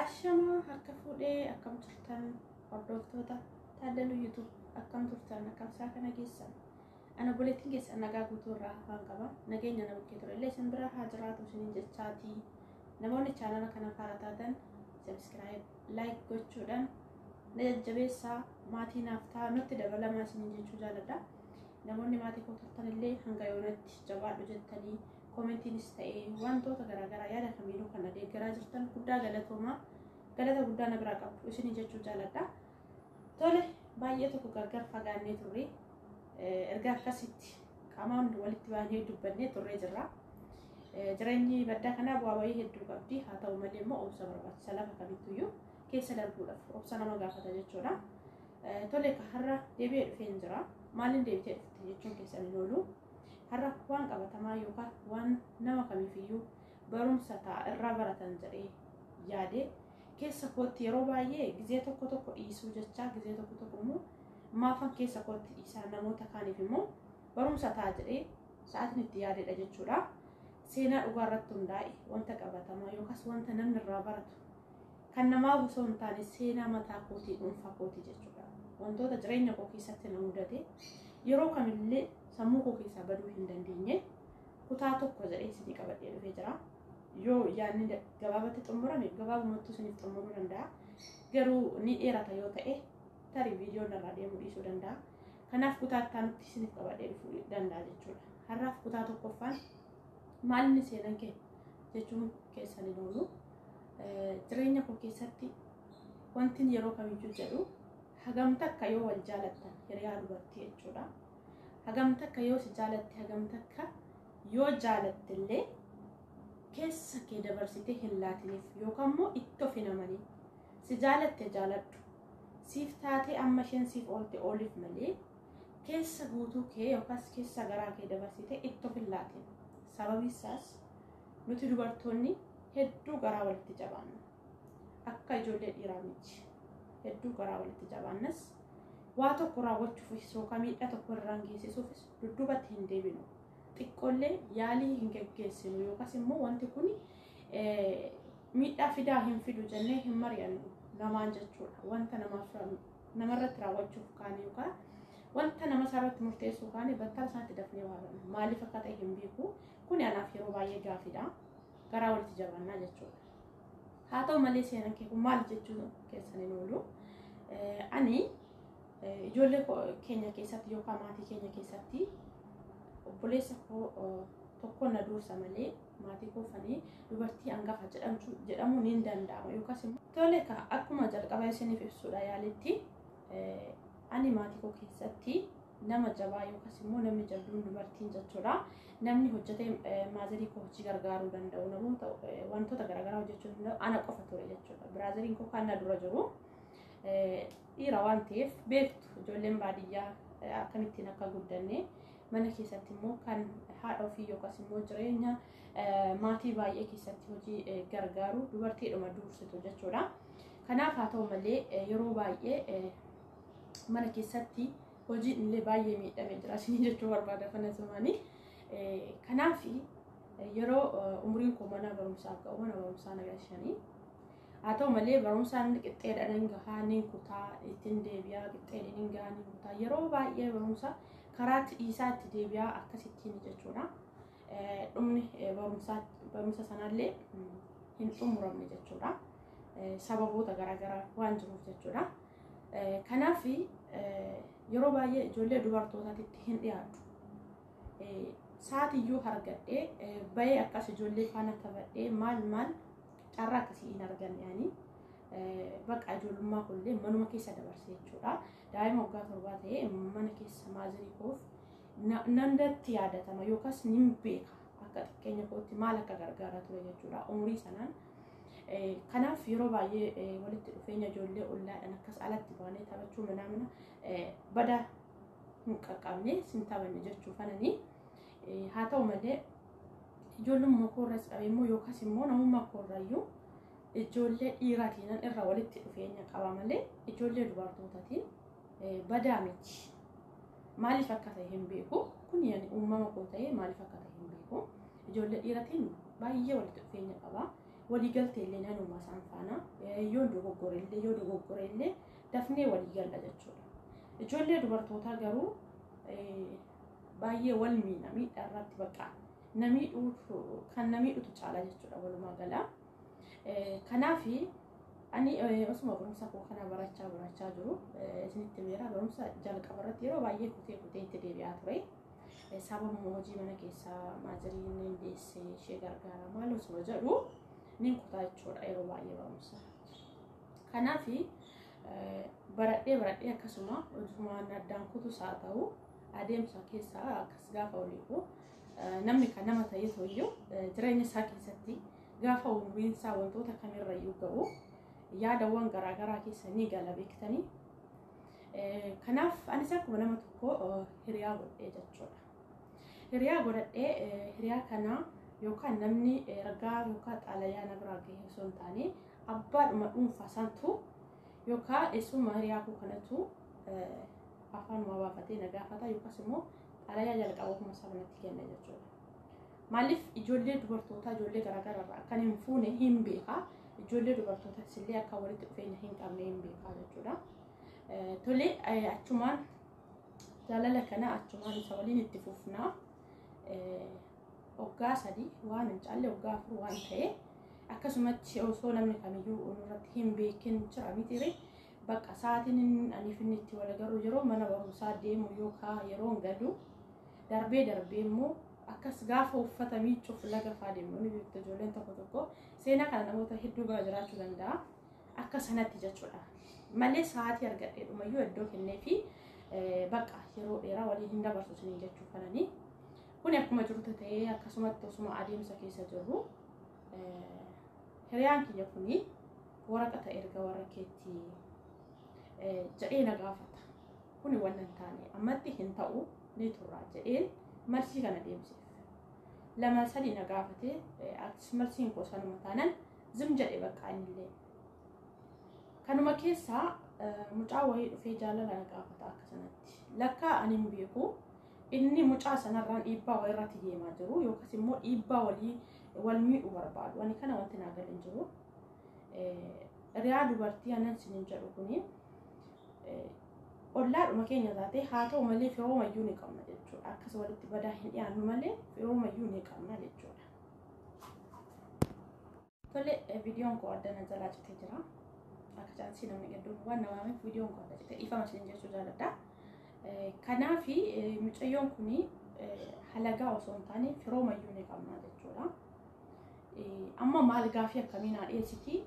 Ashamaa harka fuudhee akkam turtan hordoftoota taaddaluu yuutuub akkam turtan akkam isaa kana geessan ana buletiin keessan nagaa guutuu irraa hafaan qaba nageenya na bukkee ture illee isin bira haa jiraatu isinin jechaati namoonni chaanala kana faaraa taatan sabiskiraayib laayik gochuudhaan na jajjabeessaa maatii naaf ta'a nutti dabalamaa isinin jechuu jaaladha namoonni maatii koo turtan illee hanga yoonatti jabaadhu jettanii Koomentiinis ta'ee wantoota garaagaraa yaada kamiinuu kan adeeggaraa jirtan guddaa galatoomaa galata guddaa na biraa qabdu isin jechuu jaaladha. Tole baay'ee tokko gargar fagaannee turre erga akkasitti qamaan walitti baanee dubbannee turree jirra. Jireenyi baddaa kanaa bu'aa bayii hedduu qabdi haa ta'u malee immoo obsa barbaachisa lafa kamittuyyuu keessa darbuudhaaf obsa nama gaafata jechuudha. Tole har'a deebi'ee dhufeen jira. Maaliin deebitee dhufte jechuun keessan hin oolu. har'a waan qabatamaa yookaan waan nama kamiifiyyuu barumsa ta'a irraa baratan jedhee yaade keessa kootti yeroo baay'ee gizee tokko tokko dhiisuu jechaa gizee tokko tokko immoo maafan keessa kootti dhiisaa namoota kaaniif immoo barumsa ta'a jedhee sa'aatiin itti yaadedha jechuudha. Seenaa dhugaa irratti hundaa'e wanta qabatamaa yookaas wanta namni irraa baratu Kan namaaf osoo hin taane seenaa mataa kootii dhuunfaa kootii jechuudha. Wantoota jireenya koo keessatti na mudate yeroo kamillee sammuu koo keessaa baduu hin dandeenye kutaa tokko jedhee isinii qabadhee dhufee jira. Yoo yaadni gabaabatti xumurame gabaabumatti isiniif xumuruu danda'a. Garuu ni dheerata yoo ta'e tarii viidiyoon irraa deemuu dhiisuu danda'a. Kanaaf kutaa itti aanutti isiniif qabadhee dhufuu danda'a jechuudha. Har'aaf kutaa tokkoffaan Maalinni seenan kee jechuun keessan hin oolu. Jireenya koo keessatti wantin yeroo kamiyyuu jedhu hagam takka yoo wal jaalattan hiriyaa dubartii jechuudha. Hagam takka yoo si jaalatte hagam takka yoo jaalatte illee keessa kee dabarsitee hin laatiniif yookaan immoo itti of hin amaniin. Si jaalatte jaaladhu. Siif taatee amma isheen siif oolte ooliif malee keessa guutuu kee yookaas keessa garaa kee dabarsitee itti of hin laatin. Sababi isaas nuti dubartoonni hedduu garaa walitti jabaanna. Akka ijoollee dhiiraa miti. Hedduu garaa walitti jabaannas waa tokko raawwachuufis yookaan miidhaa tokko irraan geessisuufis dudduubatti hin deebinu. Xiqqoollee yaalii hin geggeessinu yookaas immoo wanti kun miidhaa fidaa hin fidu jennee hin mari'annu namaan jechuudha. Wanta namaaf namarratti raawwachuuf kaane yookaan wanta nama isaarratti murteessuu kaane battala isaatti dafnee waa godhna. Maaliif akka ta'e hin beeku. Kuni anaaf yeroo baay'ee gaaffiidha. Garaa walitti jabaannaa jechuudha. Haa ta'u malee seenaan kee kun maal jechuun keessan hin oolu. Ani ijoollee keenya keessatti yookaan maatii keenya keessatti obboleessa koo tokkoon na dursa malee maatii koo fanii dubartii angafa jedhamtu jedhamu niin danda'ama yookaas immoo tole ka akkuma jalqaba isiniif ibsuudha yaalitti ani maatii koo keessatti nama jabaa yookaas immoo namni jabduun dubartiin jechuudha namni hojjetee maazarii koo hojii gargaaruu danda'u namuu ta'u wantoota garaagaraa hojjechuu danda'u ana qofa ture jechuudha biraazariin koo kan na dura jiru dhiira waan ta'eef beektu ijoolleen baadiyyaa akkamittiin akka guddanne mana keessatti immoo kan haadha ofii yookaas immoo jireenya maatii baay'ee keessatti hojii gargaaru dubartiidhuma duursitu jechuudha. Kanaaf haa ta'u malee yeroo baay'ee mana keessatti hojiin illee baay'ee miidhamee jira isin jechuu barbaada kana zamaanii. Kanaaf yeroo umriin koo mana barumsaa ga'u mana barumsaa na galchanii haa ta'u malee barumsaan qixxeedhaan hin gahaa ni kutaa ittiin deebi'aa qixxeedhaan hin gahaa ni kutaa yeroo baay'ee barumsa karaatti dhiisaa itti deebi'aa akkasittiin jechuudha. Dhumni barumsa sanallee hin xumuramne jechuudha. Sababoota garaagaraa waan jiruuf jechuudha. Kanaaf yeroo baay'ee ijoollee dubartootaatitti hin dhiyaatu. Sa'aatiyyuu argadhee bayee akkas ijoollee faana taphadhee maal maal carraa akkasii hin arganne ani. Bakka ijoollummaa kunillee manuma keessa dabarse jechuudha. Daa'ima waggaa torbaa ta'ee mana keessa maazirii koof nandatti yaadatama yookaas nin beeka akka xiqqeenya kootti maal akka gargaara ture jechuudha umurii sanaan. Kanaaf yeroo baay'ee walitti dhufeenya ijoollee ollaadhaan akkas alatti baanee taphachuu manaa mana badaa hin qaqqabne sin taphanne jechuu fananii haa ta'u malee ijoollummaa koorras qabee immoo yookaas immoo namummaa koorrayyuu Ijoollee dhiiratiinan irra walitti dhufeenya qaba malee ijoollee dubartootatiin badaa miti. Maaliif akka ta'e hin beeku. Kun yani uumama koo ta'ee maaliif akka ta'e hin beeku. Ijoollee dhiiratiin baay'ee walitti dhufeenya qaba. Waliigaltee illee nanuma isaan faana yoo dogoggore illee yoo dogoggore illee dafnee waliigalla jechuudha. Ijoollee dubartootaa garuu baay'ee wal miidha miidhaa irratti bakka namii kan namii dhutu caala jechuudha walumaa galaa. Kanaaf ani osuma barumsa koo kana barachaa barachaa jiru isinitti meera barumsa jalqaba irratti yeroo baay'ee kutee kutee itti deebi'aa ture. Sababuma hojii mana keessaa maaziriin ni deessee ishee gargaara maal osuma jedhu ni kutaa jechuudha yeroo baay'ee barumsa. Kanaaf baradhee baradhee akkasuma hojumaan addaan kutus haa ta'u adeemsa keessaa akkas gaafa oliifu namni kan nama ta'ee hoyyuu jireenya isaa keessatti Gaafa umuriin isaa wantoota kamirra iyyuu ga'u yaadawwan garaagaraa keessa ni gala beektanii. Kanaaf anis akkuma nama tokko hiriyaa godhee jechuudha. Hiriyaa godhadhee hiriyaa kana yookaan namni ergaa yookaan xaalayaa na biraa gahee osoo hin taane abbaadhuma dhuunfaa santu yookaan eessuma hiriyaa koo kanatu afaan waa baafatee na gaafata yookaas immoo xaalayaa jalqaba kuma isaa natti kenna jechuudha. Maaliif ijoollee dubartootaa ijoollee garaagaraa irraa akkan hin fuune hin beekaa. Ijoollee dubartootaas illee akka walitti dhufeenya hin qabne hin beekaa jechuudha. Tole achumaan jaalala kana achumaan isa waliin itti fufnaa. Waggaa sadii waan hin caalle waggaa afur waan ta'e akkasumatti osoo namni kamiyyuu irratti hin beekin jira mitiire bakka sa'aatiin aniif inni itti wal agarru yeroo mana barumsaa deemu yookaan yeroon galu darbee darbee immoo akkas gaafa uffata miiccuuf laga faa deemnu ni beektu ijoolleen tokko tokko seenaa kana namoota hedduu bira jiraachuu danda'a akka sanatti jechuudha malee sa'aatii argadhee dhumayyuu iddoo kennee fi bakka yeroo dheeraa waliin hin dabarsu isiniin jechuu kananii kun akkuma jirtu ta'ee akkasumatti osuma adeemsa keessa jirru hiriyaan kiyya kuni waraqata erga warra keetti jedhee na gaafata. Kuni wanna hin taane ammatti hin ta'u ni turraa jedheen marsii kana deemseef. Lama sadii na gaafate atis marsiin koo sanuma taanan zim jedhe bakka innillee. Kanuma keessaa mucaa wayii dhufee jaalala na gaafata akka sanatti. Lakkaa ani hin beeku inni mucaa sanarraan dhiibbaa wayirratti deemaa jiru yookas immoo dhiibbaa walii wal miidhu barbaadu. Ani kana wanti naa galan jiru. Riyaa dubartii anan sinin jedhu kuni ollaadhuma keenya taatee haa ta'u malee firooma iyyuu ni qabna jechuudha. Akkas walitti badaa hin dhiyaannu malee firooma iyyuu ni qabna jechuudha. Tole viidiyoon koo adda na jalaa citee jira. Akka chaansii namni hedduun waan namaaf viidiyoon koo adda citee dhiifama isin jechuu jaalladha. Kanaaf mucayyoon kun halagaa osoo hin taane firooma iyyuu ni qabna jechuudha. Amma maal gaafii akkamii naa dhiyeessiti?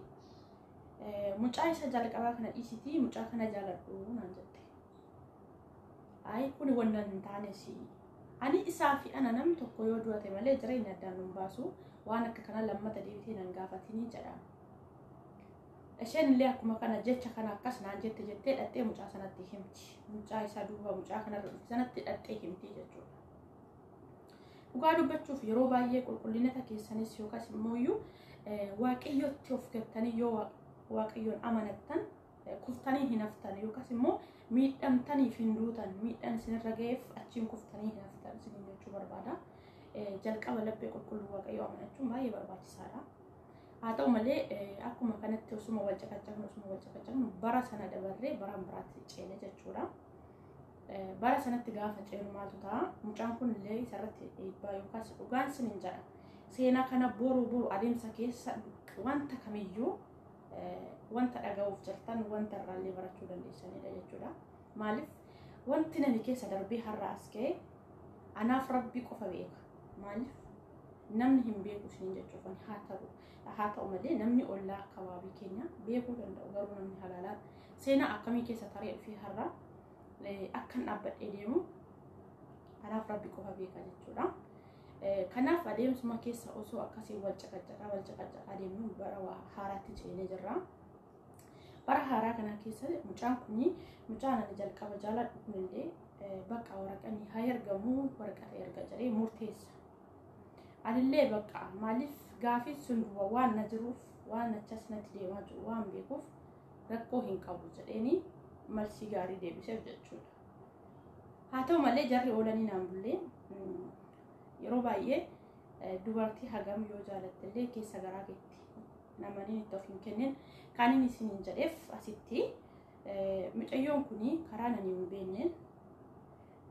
Mucaa isa jalqabaa kana dhiisitii mucaa kana jaaladhu naan jette. Ayi kuni wanna hin taane si. Ani isaa fi ana namni tokko yoo du'ate malee jireenya addaan nun baasu waan akka kana lammata deebitee nan gaafatinii jedha. Isheen illee akkuma kana jecha kana akkas naan jette jettee dhaxxee mucaa sanatti himti. Mucaa isaa duuba mucaa kanarra dhufe sanatti dhaxxee himti jechuudha. Dhugaa dubbachuuf yeroo baay'ee qulqullinata keessanis yookaas immoo iyyuu waaqayyotti of gattanii yoo waaqayyoon amanattan kuftanii hin haftan yookaas immoo miidhamtaniif hin duutan miidhaan isinirra ga'eef achiin kuftanii hin haftan isin jechuu barbaada. Jalqaba laphee qulqulluu waaqayyoo amanachuun baay'ee barbaachisaadha. Haa ta'u malee akkuma kanatti osuma wal caqacaqnu osuma wal caqacaqnu bara sana dabarree bara biraatti ceene jechuudha. Bara sanatti gaafa ceenu maaltu ta'a? Mucaan kun illee isarratti dhiibbaa yookaas dhugaan sin hin jedha. Seenaa kana boru boru adeemsa keessa wanta kamiyyuu wanta dhaga'uuf jirtan wanta irraallee barachuu dandeessanidha jechuudha. Maaliif wanti nami keessa darbee har'a as ka'e anaaf rabbii qofa beeka. Maaliif namni hin beeku siin jechuufan haa ta'u. Haa ta'u malee namni ollaa akkababii keenya beekuu danda'u garuu namni halaalaan seenaa akkamii keessa taree dhufee har'a akkan dhaabbadhee deemu anaaf rabbi qofa beeka jechuudha. Kanaaf adeemsuma keessa osoo akkasii wal caqacaqaa wal caqacaqaa deemnu bara haaraatti ceenee jirra. Bara haaraa kana keessa mucaan kun mucaan ani jalqaba jaaladhu kunillee bakka waraqanni haa ergamu waraqata erga jedhee murteessa. Anillee bakka maaliif gaafiin sun duuba waan na jiruuf waan achas natti deemaa jiru waan beekuuf rakkoo hin qabu jedheeni marsii gaarii deebiseef jechuudha. Haa ta'u malee jarri oolanii naan bullee yeroo baay'ee dubartii hagam yoo jaalattellee keessa garaa keetti namaniin itti of hin kennin kan inni isin hin jedheef asitti mucayyoon kun karaa nani hin beekneen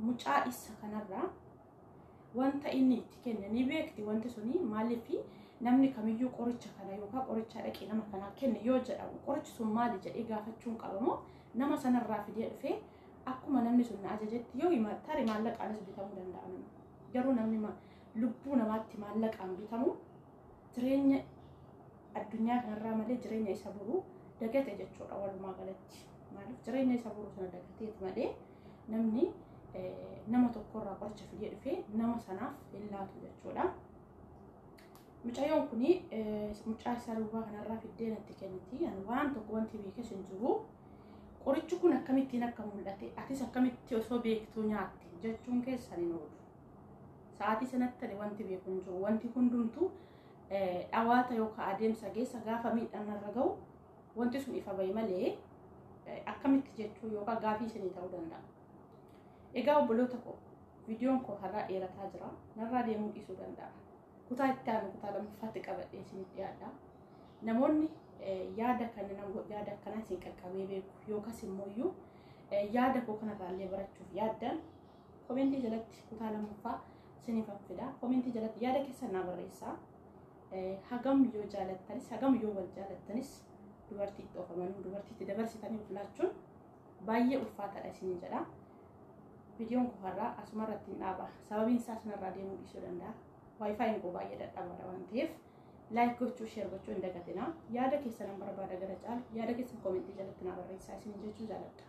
mucaa isa kanarraa wanta inni itti kenne ni beekti wanti suni maaliif namni kamiyyuu qoricha kana yookaan qorichaa dhaqee nama kanaa kenne yoo jedhamu qorichi sun maali jedhee gaafachuun qabamoo nama sanarraa fidee dhufee akkuma namni sun na ajajetti yoo hima tarii maallaqaanis bitamuu danda'a nama garuu namni ma- lubbuu namaatti maallaqaan bitamu jireenya addunyaa kanarraa malee jireenya isa boruu dagate jechuudha walumaa galatti maaliif jireenya isa boruu sana dagateeti malee namni nama tokkorraa qoricha fidee dhufee nama sanaaf hin laatu jechuudha. Mucayyoon kun mucaa isaa durbaa kanarraa fiddee natti kenniti. Ani waan tokko wanti beekes hin jiru. Qorichi kun akkamittiin akka mul'ate atis akkamitti osoo beektuu nyaatte jechuun keessan hin oolu. Sa'aatii sanatti ani wanti beeku hin jiru. Wanti hundumtuu dhawaata yookaan adeemsa geessa gaafa miidhaan irra gahu Wanti sun ifa bahe malee akkamitti jechuu yookaan gaafii isinii ta'uu danda'a. Egaa obboloota koo viidiyoon koo har'aa dheerataa jira. Narraa deemuu dhiisuu danda'a. Kutaa itti aanu kutaa lammaffaatti qabadhee isiniif dhiyaadha. Namoonni yaada kana yaada akkanaa isin qaqqabee beeku yookaas immoo iyyuu yaada koo kanarraa illee barachuuf yaaddan komentii jalatti kutaa lammaffaa isiniif fida. Komentii jalatti yaada keessan naa barreessaa. Hagam yoo jaalattanis hagam yoo wal jaalattanis dubartiitti of amanuu dubartiitti dabarsitanii of laachuun baay'ee ulfaataadha isin jedha. Viidiyoon koo har'aa asuma irratti hin dhaaba. Sababiin isaa sanarraa deemuu dhiisuu danda'a. Waayifaayiin koo baay'ee dadhabaadha waan ta'eef laayik gochuu sheer gochuu hin dagatinaa. Yaada keessan nan barbaada gara caalu yaada keessan koomentii jalatti naa barreessaa isin jechuu jaaladha.